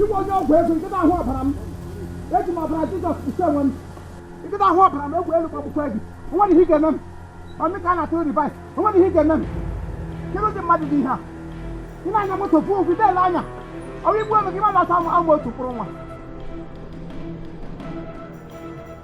Ị wụ onye ọgwụ ego ị gadị ahụ ọbara m eji m ọbara Jizọs kpuchie onwe m ị gadị ahụ ọbara m egbe elu gbagbukwa gị onweghị ihe ị ga-eme m ọmị ka a na-atụ reverse onweghị ihe ị ga-eme m kedu ụdị mmadụ dị ihe a ị na-anya moto pụ ụkwụ dele anya ọ wụ igbu ego gị ma na-asa ama otu mkpụrụ nwa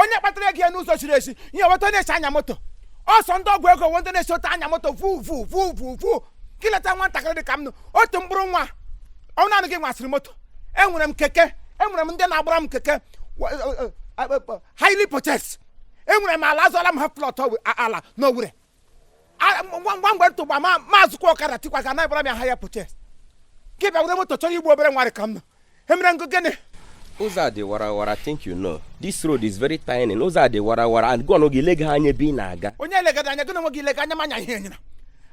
onye kpatara ego ya n'ụzọ ziri ezi ihe wụ otu ọ na-esi anya moto ọ sọ ndị ọgwụ ego wụ ndị na-esi otu a anya moto vu vu vu vu vu ka i leta nwatakịrị dị ka m nụ otu mkpụrụ nwa ọ naanị gị nwasịrị moto enwere m keke enwere m ndị na-agbara m keke hire purchase enwere m ala azụọla m half plot ala n'Owere ngwa ngwa mgbe tụgba ma m azụkwa ọkada tikwa ga na-agbara m hire purchase gị bịa were moto chọrọ igbu obere nwa dị ka m nụ emere m gị gịnị ụzọ a dị warawara I think you know this road is very tiny ụzọ a dị warawara and gụọ gị lega anya ebe ị na-aga onye legada anya gị na onwe gị ilega anya manya ihe enyere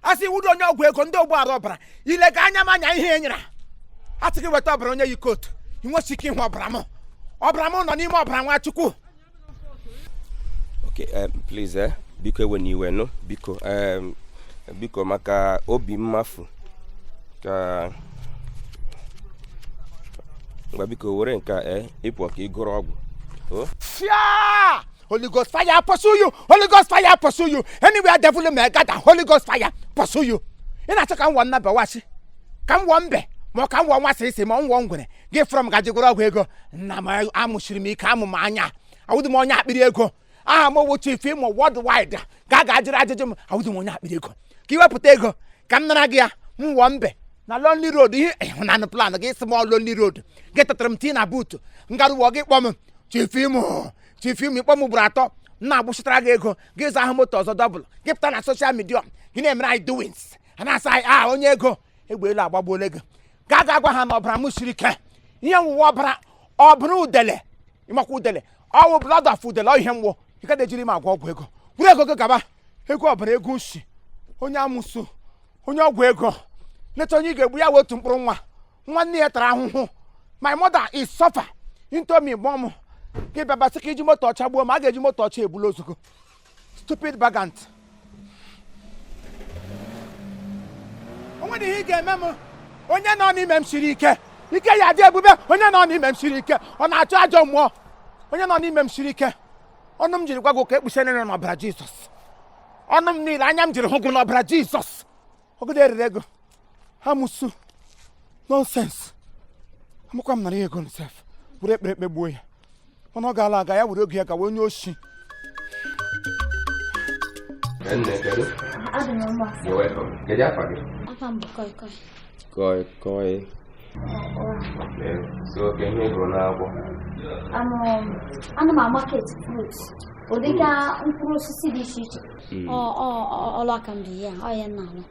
a sị ị wụdị onye ọgwụ ego ndị ogbu ara ọbara ilega anya manya ihe enyere a sị gị weta ọbara onye yi coat ị nwesị ike ịhụ ọbara m ọbara m nọ n'ime ọbara nwa Chukwu Okay, um, please, eh, biko ewena iwe nụ biko um, biko maka obi mmafu ka ngwa biko were nke a eh, ị pụ ka ị gọrọ ọgwụ oh. Fia! Holy Ghost fire pursue you. Holy Ghost fire pursue you. Anywhere devil may gather, Holy Ghost fire pursue you. Ị na-achọ ka m wụọ nnabe wasị, ka m wụọ mbe, ma ọ ka m wụọ nwa sịsị ma ọ m wụọ ngwere. gị vuru m ga ji gwọrọ ọgwụ ego nna m amụsiri m ike amụ m anya awụdị m onye akpịrị ego aha m wụ Chief Imo worldwide gaa ga jụrụ ajụjụ m awụdị m onye akpịrị ego ka i wepụta ego ka m nara gị ya m wụọ mbe na lonely road ihe ịhụnanụ plan gị sị m ọ lonely road gị tụtara m tii na boot ngarụwọ gị kpọ m Chief Imo Chief Imo ị kpọ m ugboro atọ m na-agbụchitara gị ego gị zụa moto ọzọ double gị pụta na social media gị na-emere anyị doings a na-asa anyị aha onye ego egbe elu agbagbuola gị gaa ga gwa ha na ọbara m siri ike ihe m wụ wụ ọbara ọbara udele ị makwa udele ọ wụ blood of udele ihe m wụ ị gaghị ejiri m agwọ ọgwụ ego vuru ego gị gaba ego ọbara ego nsi onye amụsụ onye ọgwụ ego leta onye ị ga-egbu ya wụ otu mkpụrụ nwa nwa nne ya tara ahụhụ my mother is suffering to me born gị bịa ba sị ka i ji moto ọcha gbuo m a ga-eji moto ọcha ebula ozugbo stupid bagant o nwedị ihe ị ga-eme m onye nọ n'ime m siri ike ike ya dị ebube onye nọ n'ime m siri ike ọ na-achụ ajọ mmụọ onye nọ n'ime m siri ike ọnụ m jiri gwa gị okwu ekpuchie niile n'ọbara jizọs ọnụ m niile anya m jiri hụ gị n'ọbara jizọs ọ gadị erere gị amusu nonsense amakwa m nara ya ego sef were ekpere kpegbuo ya mana ọ gaala aga ya were oge ya gawa onye oshi koi koi ana m a-market fruits ọ dịka mkpụrụ osisi dị iche iche ọlụ aka m bụ ya ọ ya na-alụ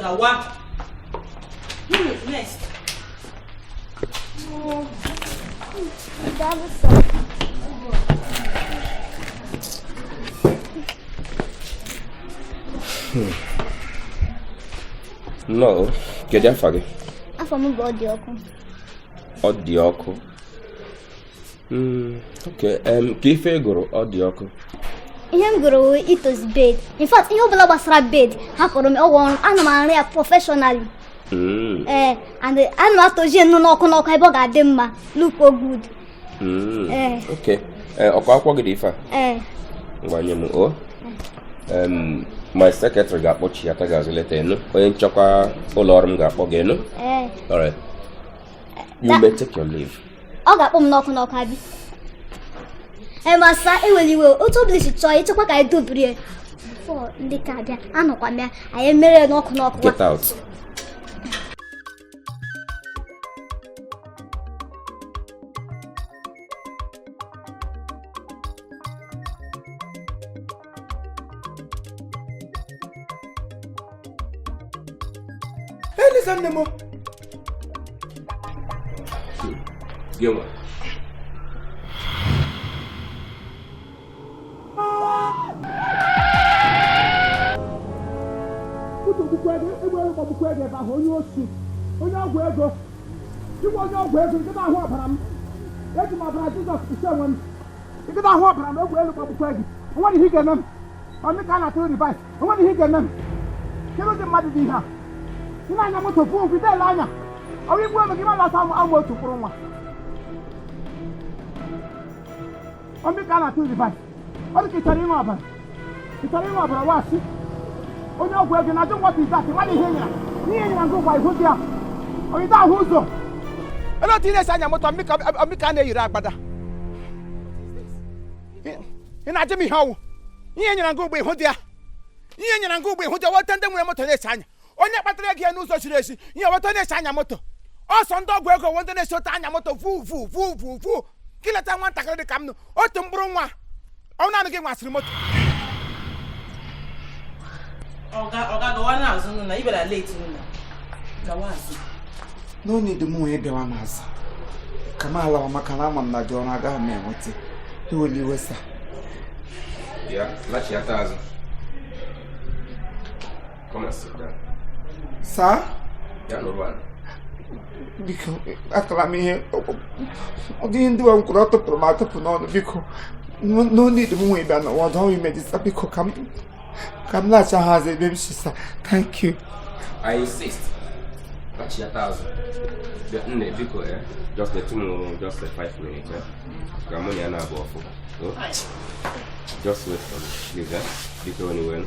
gawa nnọọ hmm. kedu afa gị afa m bụ Ọdịọkụ Ọdịọkụ okay, ka ife ị gụrụ Ọdịọkụ ihe m gụrụ wụ ịtọzi bed in fact ihe ọbụla gbasara bed hapụrụ m ọ wụ ọrụ ana m arụ ya professionally hmm. ee eh, and ana m atọzi nnọọ n'ọkụ n'ọkụ ebe ọ ga-adị mma lookuo good hmm. eh. eh, ọkwa akwụkwọ gị dị ife a ngwa nye m o my secretary ga-akpọchighata gị azụ later ị nụ onye nchekwa ụlọ ọrụ m ga-akpọ gị ị nụ all right you may take your leave ọ ga-akpọ m n'ọkụ n'ọkụ abi master ewela iwe otu ọbụla ị si chọọ ịchekwa ka anyị dobiri ya for ndị ka abịa anọkwa m ya anyị emere ya n'ọkụ n'ọkụ get out Elisa nne m gịnwa egbagbukwe gị ebe ahụ onye osi onye ọgwụ ego gịnwa onye ọgwụ ego ị gaghị ahụ ọbara m eji m ọbara Jizọs kpuchie onwe m ị gaghị ahụ ọbara na egbe elu gbagbukwa gị onwere ihe ị ga-eme m ọ mụ ka a na-atụrụ reverse onwere ihe ị ga-eme m kedu ụdị mmadụ dị ihe a ị na-anya moto pụọ ị dịghị ele anya ọ wụ igbu m ebe gị ma na-asa amụ amụ otu mkpụrụ nwa ọ mụ ka a na-atụrụ reverse ọ dị ka ị chọrọ ịṅụ ọbara ị chọrọ ịṅụ ọbara wasị onye ọgwụ ego na-ajụ what is that mmadụ ihe nyara n'ihe nyara gị ụgbọ ihu dị ya ị dịghị ahụ ụzọ elee otu ị na-esi anya moto ọ mụ ka a na-eyiri agbada ị na-ajụ m ihe ọ wụ ihe nyara gị ụgbọ ihu dị ya ihe nyara gị ụgbọ ihu dị ya wụ etu ndị nwere moto na-esi anya onye kpatara ego ya n'ụzọ ziri ezi ihe weta na-esi anya moto ọsọ ndị ọgwụ ego weta na-esi otu anya moto vu vu vu vu vu ka ileta nwatakịrị dị ka m nụ otu mkpụrụ nwa ọ wụ naanị gị nwasịrị moto ọga ọga gawa n'azụ nụ na ibela leti nụ na gawa azụ no need m wee bịawa n'azụ ka m alawa maka na ama m na dị ọrụ agaghị m enweta ewela iwe sa ya lachiata azụ saa biko atala m ihe ọ dịghị ndị nwa m kwuru ọ tụpụrụ m atụpụ n'ọnụ biko no need m wee bịa nọwa ọdụ ime dịsa biko ka m ka m lachigha azụ ebe m si sa thank you I insist lachiata azụ nne biko eh, just let me just a five minutes eh. ka mụ na ya na-abụ ọfụ just wait for me please eh. biko onye wenu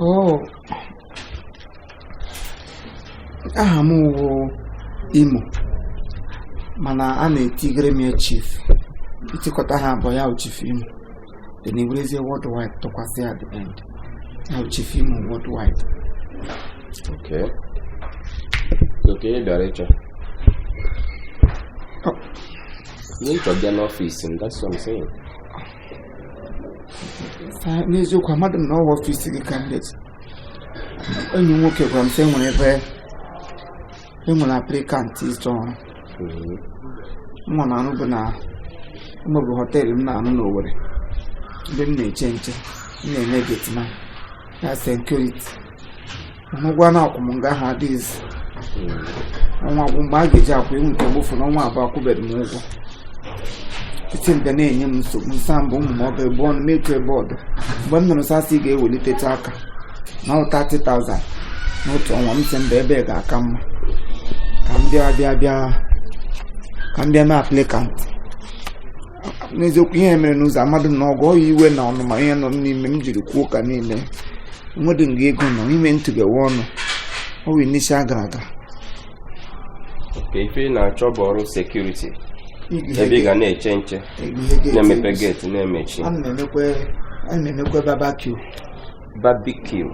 Oh. aha m wụ imo mana a na-etigere m ya chief i tikọta ha abụọ ya wụ chief imo then i werezie worldwide tụkwasị at the end ya chief imo worldwide okay oke ị bịara ịchọ oh. ihe ị chọ bịa n'ọfịs m that's what I'm saying n'eziokwu amadị m na ọ wụ ọfịs gị ka m leta enyi m nwoke gwara m sị enwere ebe enwere aplikant ịchọ ọrụ nga m na-arụbu na mbụ bụ họteelụ m na-arụ n'Owerri ebe m na-eche nche m na-eme getman na sekuriti ụgwọ a na-akwụ m nga ahụ adịghịzi ọnwa gwụ mgbe a ga-eji akwụ iwu nke mgbe ụfọdụ ọnwa abụọ akwụbeghị m ụgwọ titi mbe na-enye m nsogbu ụmụ m ọ bụ ebe ọnụ m etu ebe ọdụ mgbe m nụrụ sị a sị ị ga-ewelitetụ aka na ọ 30,000 n'otu ọnwa m sị mba ebe a ga-aka mma ka m bịa bịa bịa ka m bịa mee aplikant n'eziokwu ihe mere n'ụzọ amadị m na ọ gị ọ ya iwe na ọnụma ihe nọ n'ime m jiri kwuo ụka niile nwedị nga ego nọ ime ntụgewe ọnụ ọnwa isii gara aga ife ị na-achọ bụ ọrụ sekuriti ebe ị ga na-eche nche na-emepe geeti na-emechi a na-emekwa barbecue barbecue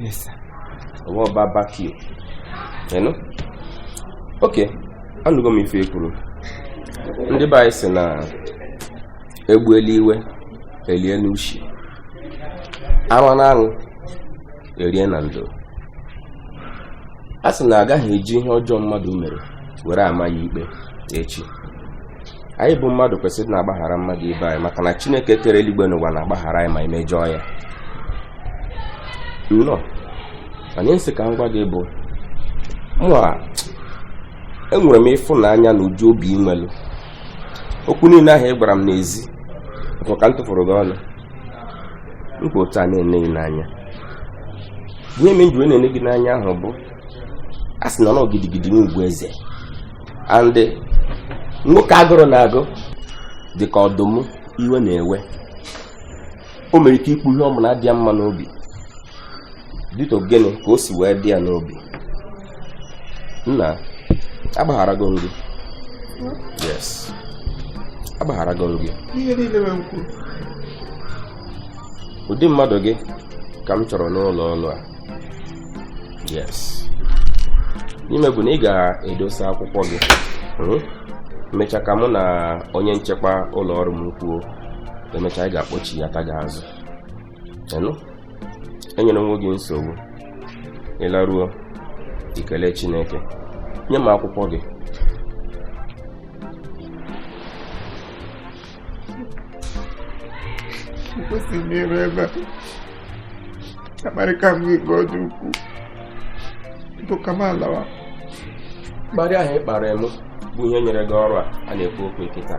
Yes, sir. ọ wụ barbecue you know? ok anụgo m ife i kwuru ndị be anyị sị na e gbuelu iwe e lie n'ushi a rụọ n'anwụ e rie na ndo a sị na agaghị eji ihe ọjọọ mmadụ mere were ama ya ikpe echi anyị bụ mmadụ kwesịrị na-agbaghara mmadụ ibe anyị maka na chineke kere eluigwe na ụwa na-agbaghara anyị ma e mejọọ ya nna ihe m sị ka m gwa gị bụ mụa enwere m ịfụnanya na ụdị obi i nwelu okwu niile ahụ ị gwara m n'ezi bụ ka m tụfụrụ gị ọnụ m kwụ otu a na-ene gị n'anya ihe m ji wee na-ene gị n'anya ahụ bụ a sị na ọ gidigidi n'ugwu eze and nwoke agụrụ na-agụ dị ka ọdụm iwe na-ewe o nwere ike ikwu ihe ọ bụla dị ya mma n'obi due to gịnị ka o si wee dị ya n'obi nna agbagharago m gị yes agbagharago m gị ụdị mmadụ gị ka m chọrọ n'ụlọ ọrụ a yes ihe i me bụ na ị ga-edosa akwụkwọ gị hmm? mechaa ka mụ na onye nchekwa ụlọ ọrụ m kwuo e mechaa anyị ga-akpọchiata gị azụ enyela onwe gị nsogbu ị laruo i kelee chineke nye m akwụkwọ gị kwesịrị m ịrụ ebe a akparịka m gị ka ọ dị ukwuu bụ ka m lawa mkparị ahụ ị kpara m bụ ihe nyere gị ọrụ a a na-ekwu okwu kịta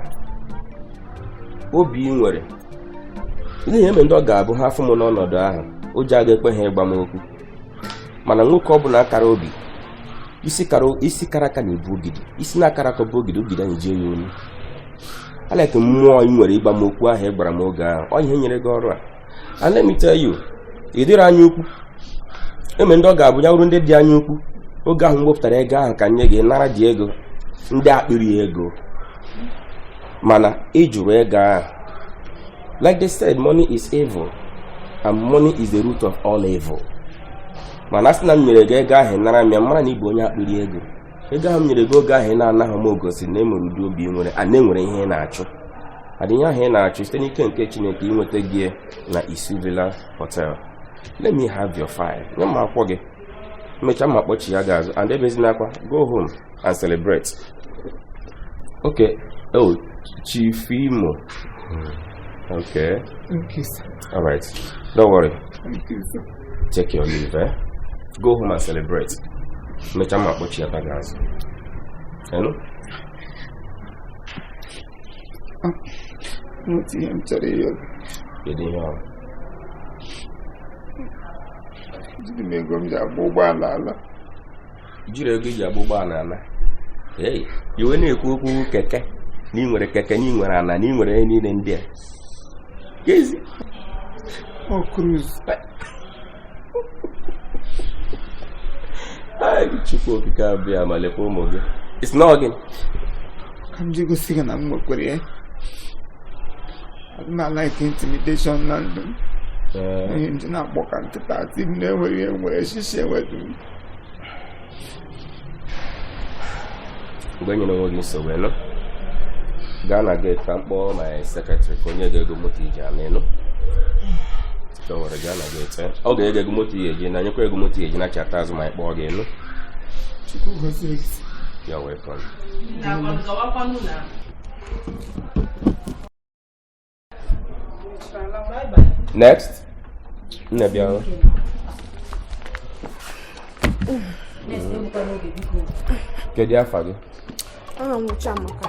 obi ị nwere n'ihi e nwere ndị ọ ga-abụ ha afụ m n'ọnọdụ ahụ ụjọ aga ekwe ha ịgwa m okwu mana nwoke ọ bụla akara obi isi kara aka na-ebu ogidi isi na-akarọ aka bu ogidi ogidi anyajie ya olu I like mmụọ ị nwere ịgwa m okwu ahụ ị gwara m oge ahụ ọ ihe nyere gị ọrụ a and let me tell you ị dịghị anya ukwu e nwere ndị ọ ga-abụ ya bụrụ ndị dị anya ukwu oge ahụ m wepụtara ego ahụ ka m nye gị nara dị ego ndị akpịrị ego mana ị jụrụ ego ahụ Like they said, money is evil and money is the root of all evil. mana a sị na m nyere gị ego ahụ nara m ya m mara na ị bụ onye akpịrị ego ego ahụ m nyere gị oge ahụ ị na-anaghị m egosi na e nwere ụdị obi i nwere and e nwere ihe ị na-achụ and ihe ahụ ị na-achụ site n'ike nke chineke i nwetago ya na isu villa hotel let me have your file nye m akwụkwọ gị mechaa m akpọchia gị azụ and ebezina akwa go home and celebrate okay oh chief imo hmm. okay thank you sir all right don't worry thank you sir take your leave eh? go home and celebrate mechaa m akpọchiata gị azụ enu nweta ihe m chọrọ ịyọ kedu ihe ọ jiri m ego m ji agba ụgbọala ala jiri ego ị ji agba ụgbọala ala i wee na-ekwu okwu keke na ị nwere keke na ị nwere ala na ị nwere ihe niile ndị a Gezi. Ọ cruise. Ai, Chukwu okike abịama lekwa ụmụ gị. It's not gị. Ka m ji gosi gị na m nwekwere ya. Adị m a-like intimidation na ndụ m. Onye nji na-agbọ ka nkịta ati m na-enweghị enwe shishi enwedu m. mgbe nyere onwe gị nsogbu ị nụ gaa na gate ka m kpọọ my secretary ka o nye gị ego moto ị ji ana ị nụ chọwara gaa na gate eh? ọ ga-enye gị ego moto ị ga-eji naa nyekwa gị ego moto ị ga-eji nachata azụ ma m kpọọ gị ị nụ you're welcome next nne bịa kedu afa gị aha m Chiamaka